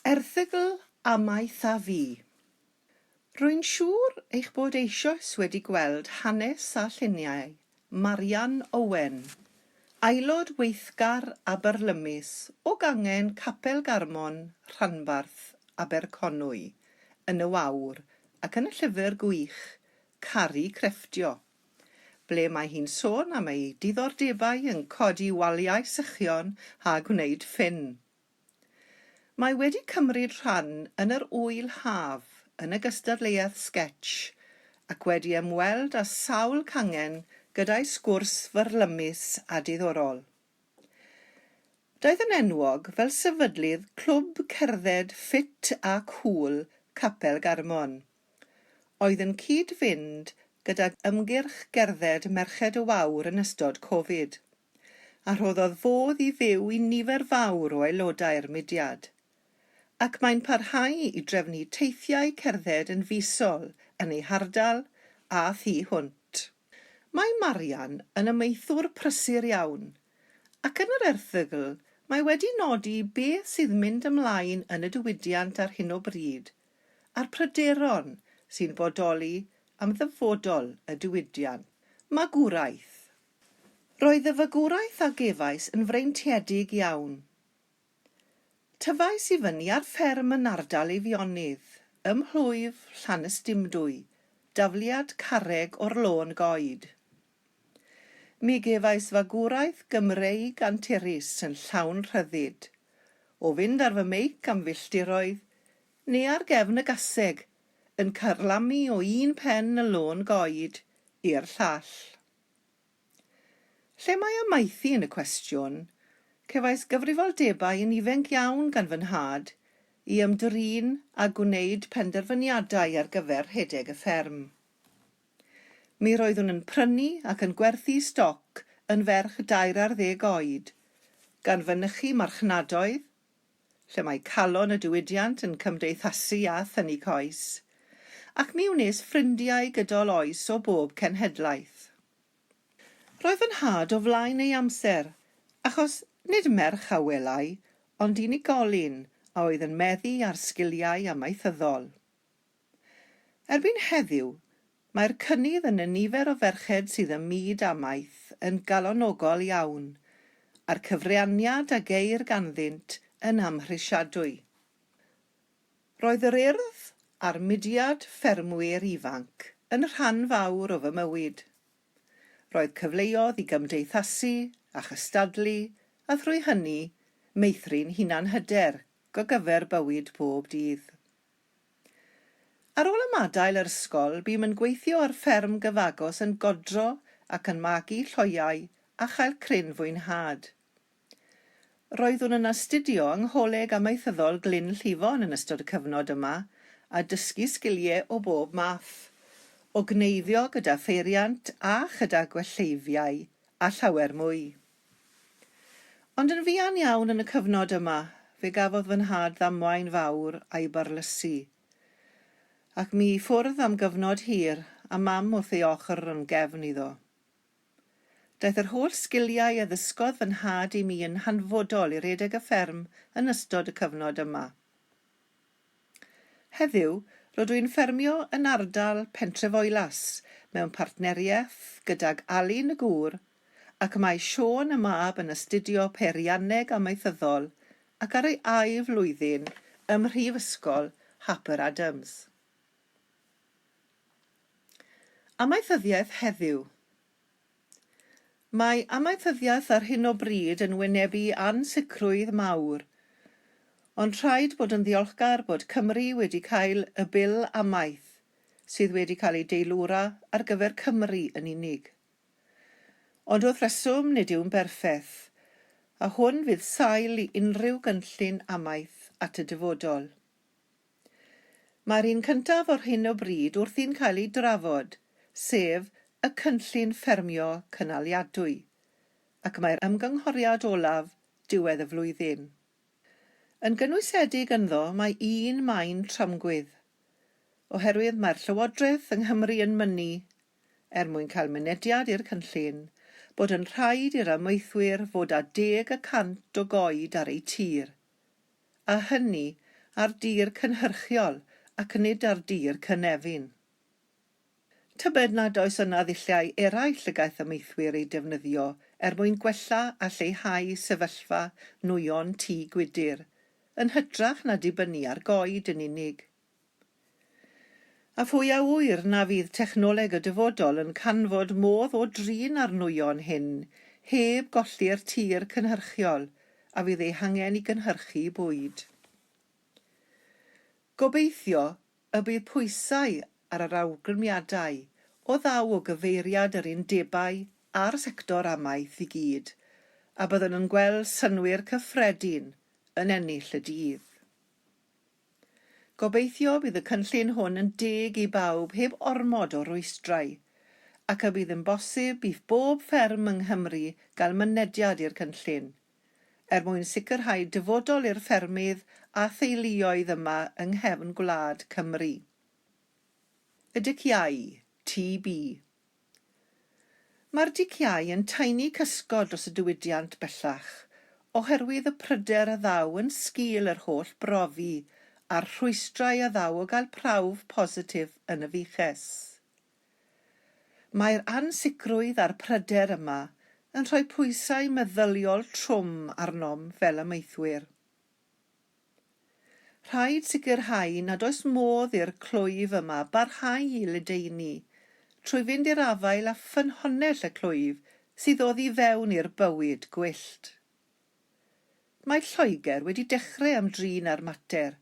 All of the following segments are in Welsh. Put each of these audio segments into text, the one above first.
Erthygl amaeth a fi. Rwy'n siŵr eich bod eisioes wedi gweld hanes a lluniau Marian Owen, aelod weithgar a byrlymus o gangen Capel Garmon, Rhanbarth, Aberconwy, yn y wawr ac yn y llyfr gwych Caru Crefftio, ble mae hi'n sôn am ei diddordebau yn codi waliau sychion a gwneud ffyn. Mae wedi cymryd rhan yn yr Ŵyl Haf yn y gystadleuaeth sgetsh ac wedi ymweld â sawl cangen gyda'i sgwrs fyrlymus a diddorol. Daeth yn enwog fel sefydlydd clwb cerdded ffit a cŵl Capel Garmon, oedd yn cyd-fynd gydag ymgyrch gerdded Merched y Wawr yn ystod Covid. a rhoddodd fodd i fyw i nifer fawr o aelodau'r mudiad, ac mae'n parhau i drefnu teithiau cerdded yn fisol yn ei hardal a thu hwnt. Mae Marian yn amaethwr prysur iawn, ac yn yr erthygl mae wedi nodi beth sydd mynd ymlaen yn y diwydiant ar hyn o bryd, a'r pryderon sy'n bodoli am ddyfodol y diwydiant. Magwraeth. Roedd y fagwraeth a gefais yn freintiedig iawn. Tyfais i fyny ar fferm yn ardal Eifionydd, ym mhlwyf Llanystumdwy, dafliad carreg o'r Lôn Goed. Mi gefais fagwraeth Gymreig anturus yn llawn rhyddid, o fynd ar fy meic am filltiroedd, neu ar gefn y gaseg, yn carlamu o un pen y Lôn Goed i'r llall. Lle mae amaethu yn y cwestiwn? Cefais gyfrifoldebau yn ifainc iawn gan fy nhad i ymdrin â gwneud penderfyniadau ar gyfer rhedeg y fferm. Mi roeddwn yn prynu ac yn gwerthu stoc yn ferch dair ar ddeg oed, gan fynychu marchnadoedd, lle mae calon y diwydiant yn cymdeithasu a thynnu coes, ac mi wnes ffrindiau gydol oes o bob cenhedlaeth. Roedd fy nhad o flaen ei amser, achos nid merch a welai, ond unigolyn a oedd yn meddu ar sgiliau amaethyddol. Erbyn heddiw, mae'r cynnydd yn y nifer o ferched sydd ym myd amaeth yn galonogol iawn, a'r cyfraniad a geir ganddynt yn amhrisiadwy. Roedd yr Urdd a'r mudiad ffermwyr ifanc yn rhan fawr o fy mywyd. Roedd cyfleodd i gymdeithasu a chystadlu a thrwy hynny meithrin hunanhyder go gyfer bywyd pob dydd. Ar ôl ymadael yr ysgol, bûm yn gweithio ar fferm gyfagos yn godro ac yn magu lloiau a chael cryn fwynhad. Roeddwn yn astudio yng Ngholeg Amaethyddol Glyn Llifon yn ystod y cyfnod yma a dysgu sgilie o bob math, o gneifio gyda pheiriant a chyda gwelleiddiau a llawer mwy. Ond yn fuan iawn yn y cyfnod yma, fe gafodd fy nhad ddamwain fawr a'i barlysu, ac mi i ffwrdd am gyfnod hir, a Mam wrth ei ochr yn gefn iddo. Daeth yr holl sgiliau a ddysgodd fy nhad i mi yn hanfodol i redeg y fferm yn ystod y cyfnod yma. Heddiw, rydw i'n ffermio yn ardal Pentrefoelas mewn partneriaeth gydag Alun y gŵr, ac mae Siôn y mab yn astudio Peirianneg Amaethyddol ac ar ei ail flwyddyn ym Mhrifysgol Harper Adams. Amaethyddiaeth heddiw. Mae amaethyddiaeth ar hyn o bryd yn wynebu ansicrwydd mawr, ond rhaid bod yn ddiolchgar bod Cymru wedi cael y Bil amaeth, sydd wedi cael ei deilwra ar gyfer Cymru yn unig. Ond wrth reswm, nid yw'n berffeth, a hwn fydd sail i unrhyw gynllun amaeth at y dyfodol. Mae'r un cyntaf ar hyn o bryd wrthi'n cael ei drafod, sef y cynllun ffermio cynaliadwy, ac mae'r ymgynghoriad olaf diwedd y flwyddyn. Yn gynwysedig ynddo mae un maen tramgwydd, oherwydd mae'r Llywodraeth yng Nghymru yn mynnu, er mwyn cael mynediad i'r cynllun, bod yn rhaid i'r amaethwyr fod â deg y cant o goed ar eu tir, a hynny ar dir cynhyrchiol ac nid ar dir cynefin. Tybed nad oes yna ddulliau eraill y gaiff amaethwyr eu defnyddio er mwyn gwella a lleihau sefyllfa nwyon tŷ gwydr, yn hytrach na dibynnu ar goed yn unig? A phwy a ŵyr na fydd technoleg y dyfodol yn canfod modd o drin â'r nwyon hyn heb golli'r tir cynhyrchiol a fydd eu hangen i gynhyrchu bwyd. Gobeithio y bydd pwysau ar yr awgrymiadau o ddaw o gyfeiriad yr undebau a'r sector amaeth i gyd, a byddwn yn gweld synnwyr cyffredin yn ennill y dydd. Gobeithio bydd y cynllun hwn yn deg i bawb heb ormod o rwystrau, ac y bydd yn bosib i bob fferm yng Nghymru gael mynediad i'r cynllun, er mwyn sicrhau dyfodol i'r ffermydd a theuluoedd yma yng nghefn gwlad Cymru. Y Dyciau, TB. Mae'r diciâu yn taenu cysgod dros y diwydiant bellach oherwydd y pryder a ddaw yn sgil yr holl brofi a'r rhwystrau a ddaw o gael prawf positif yn y fiches. Mae'r ansicrwydd a'r pryder yma yn rhoi pwysau meddyliol trwm arnom fel amaethwyr. Rhaid sicrhau nad oes modd i'r clwyf yma barhau i ledaenu, trwy fynd i'r afael â ffynhonnell y clwyf sydd oddi fewn i'r bywyd gwyllt. Mae Lloegr wedi dechrau ymdrin â'r mater,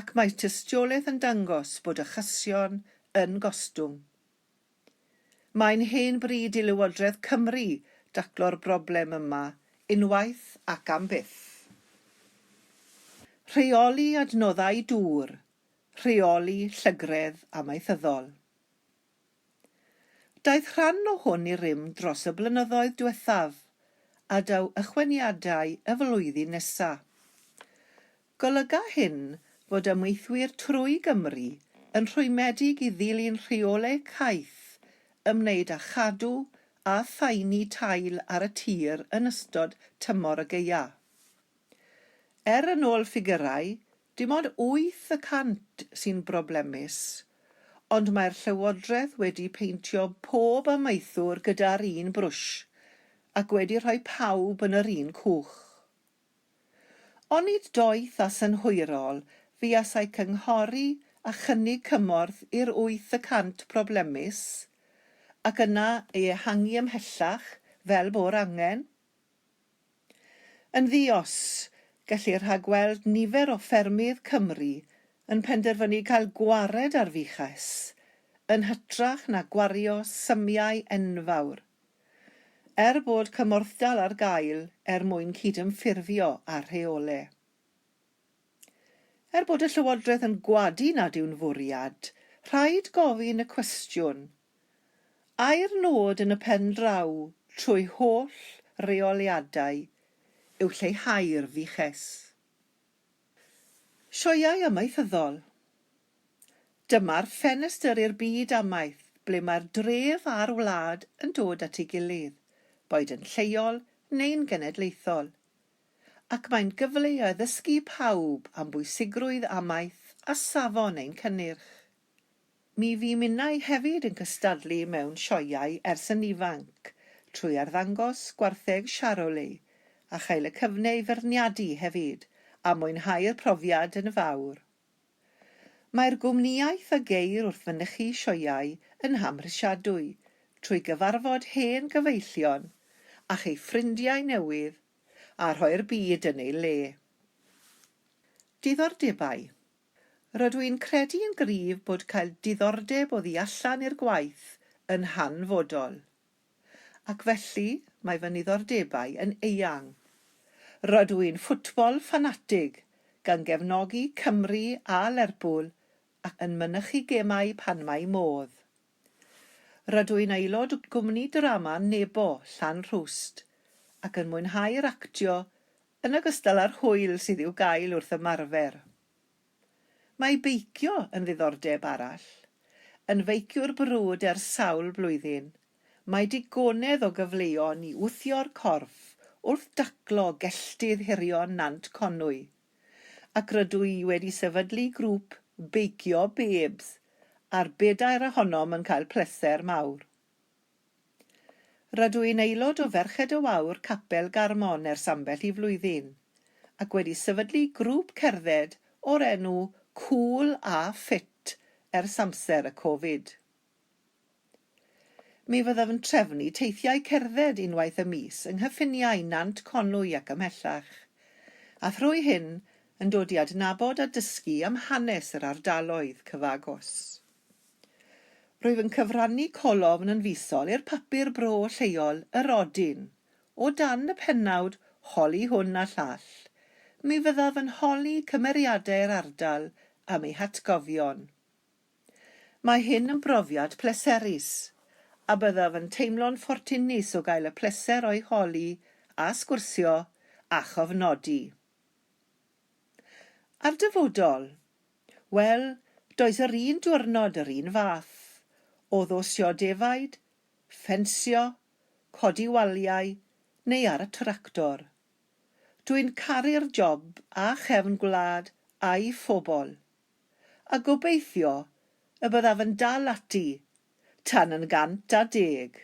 ac mae tystiolaeth yn dangos bod achosion yn gostwng. Mae'n hen bryd i Lywodraeth Cymru daclo'r broblem yma unwaith ac am byth. Rheoli adnoddau dŵr, rheoli llygredd amaethyddol. Daeth rhan o hwn i rym dros y blynyddoedd diwethaf, a daw ychwaniadau y flwyddyn nesa. Golyga hyn fod ymweithwyr trwy Gymru yn rhwymedig i ddilyn rheolau caeth ymwneud â chadw a phaenu tail ar y tir yn ystod tymor y gaeaf. Er yn ôl ffigyrau, dim ond wyth y cant sy'n broblemus, ond mae'r Llywodraeth wedi peintio pob amaethwr gyda'r un brwsh ac wedi rhoi pawb yn yr un cwch. Onid doeth a synhwyrol fuasai cynghori a chynnig cymorth i'r wyth y cant problemus, ac yna ei ehangu ymhellach, fel bo'r angen? Yn ddi-os, gellir rhagweld nifer o ffermydd Cymru yn penderfynu cael gwared ar fuches, yn hytrach na gwario symiau enfawr er bod cymorthdal ar gael er mwyn cydymffurfio â'r rheole. Er bod y Llywodraeth yn gwadu nad yw'n fwriad, rhaid gofyn y cwestiwn, ai'r nod yn y pen draw trwy holl reoliadau yw lleihau'r VICEs? Sioeau amaethyddol Dyma'r ffenestr i'r byd amaeth ble mae'r dref a'r wlad yn dod at ei gilydd, boed yn lleol neu'n genedlaethol, ac mae'n gyfle i addysgu pawb am bwysigrwydd amaeth a safon ein cynnyrch. Mi fu minnau hefyd yn cystadlu mewn sioeau ers yn ifanc, trwy arddangos gwartheg Charolais, a chael y cyfne i feirniadu hefyd, a mwynhau'r profiad yn fawr. Mae'r gwmnïaeth a geir wrth fynychu sioeau yn hamhrisiadwy, trwy gyfarfod hen gyfeillion, a chei ffrindiau newydd, a rhoi'r byd yn ei le. Diddordebau. Rydw i'n credu yn gryf bod cael diddordeb o ddu allan i'r gwaith yn hanfodol. Ac felly, mae fy niddordebau yn eang. Rydw i'n ffwtbol ffanatig, gan gefnogi Cymru a Lerpwl ac yn mynychu gemau pan mae modd. Rydw i'n aelod o gwmni drama Nebo, Llanrhwst, ac yn mwynhau'r actio yn ogystal â'r hwyl sydd i'w gael wrth ymarfer. Mae beicio yn ddiddordeb arall. Yn feiciwr brwd ers sawl blwyddyn, mae digonedd o gyfleon i wthio'r corff wrth daclo gelltydd hirion Nant Conwy, ac rydw i wedi sefydlu grŵp beicio Babes a'r bedair ohonom yn cael pleser mawr. Rydw i'n aelod o Ferched y Wawr Capel Garmon ers ambell i flwyddyn, ac wedi sefydlu grŵp cerdded o'r enw Cool a Ffit ers amser y Covid. Mi fyddaf yn trefnu teithiau cerdded unwaith y mis yng nghyffiniau Nant Conwy ac ymhellach, a thrwy hyn yn dod i adnabod a dysgu am hanes yr ardaloedd cyfagos. Rwyf yn cyfrannu colofn yn fisol i'r papur bro lleol Yr Odyn, o dan y pennawd 'Holi hwn a llall'. Mi fyddaf yn holi cymeriadau'r ardal am eu hatgofion. Mae hyn yn brofiad pleserus, a byddaf yn teimlo'n ffortunus o gael y pleser o'i holi a sgwrsio a chofnodi. A'r dyfodol? Wel, does yr un diwrnod yr un fath, o ddosio defaid, ffensio, codi waliau, neu ar y tractor. Dwi'n caru'r job a chefn gwlad a'i phobl. A gobeithio y byddaf yn dal ati tan yn gant a deg.